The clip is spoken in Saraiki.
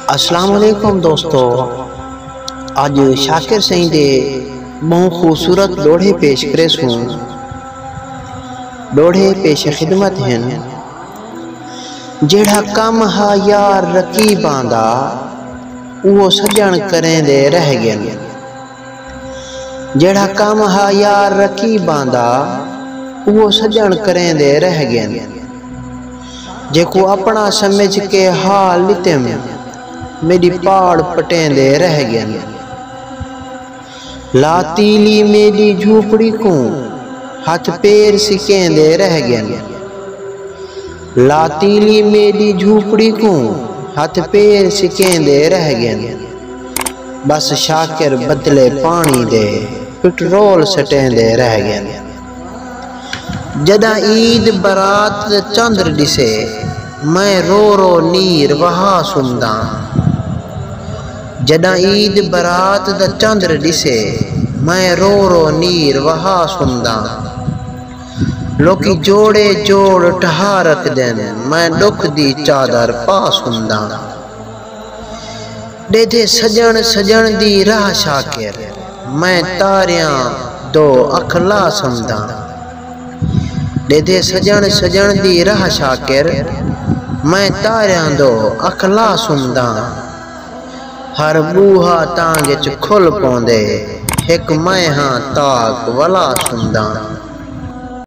السلام علیکم دوستو اج شاکر سائیں دے بہوں خوبصورت ڈوڑھے پیش کرے سوں ڈوڑھے پیش خدمت ہیں جیڑھا کم ہا یار رقیباں دا اوہ سجن کریں دے رہ گئے جیڑھا کم ہا یار رقیباں دا اوہو سڄݨ کریندے رہ ڳئن جیکوں اپݨا سمجھ کے حال ݙتیم میݙی پاڑ پٹیندے رہ ڳئن لا تیلی میݙی جھوپڑی کوں ہتھ پیر سکیندے رہ ڳئن لا تیلی میݙی جھوپڑی کوں ہتھ پیر سکیندے رہ ڳئن۔ بس شاکر بدلے پاݨی دے پٹرول سٹیندے رہ ڳن۔ جݙاں عید برات دا چندر ݙسے میں رو رو نیر وہا سݨداں۔ جݙاں عید برات دا چندر ݙسے میں رو رو نیر وہا سݨداں۔ لوکی جوڑے جوڑ ٹہا رکھدن میں ݙکھ دی چادر پا سݨداں۔ ݙیدھے سڄݨ سڄݨ دی راہ شاکر میں تاریاں دو اکھ لا سمداں ݙیدھے سڄݨ سڄݨ دی راہ شاکر میں تاریاں دو اکھ لا سمداں ہر ٻوہا تانگ اچ کھل پوندے ہک میں ہاں تاک ولا سمداں۔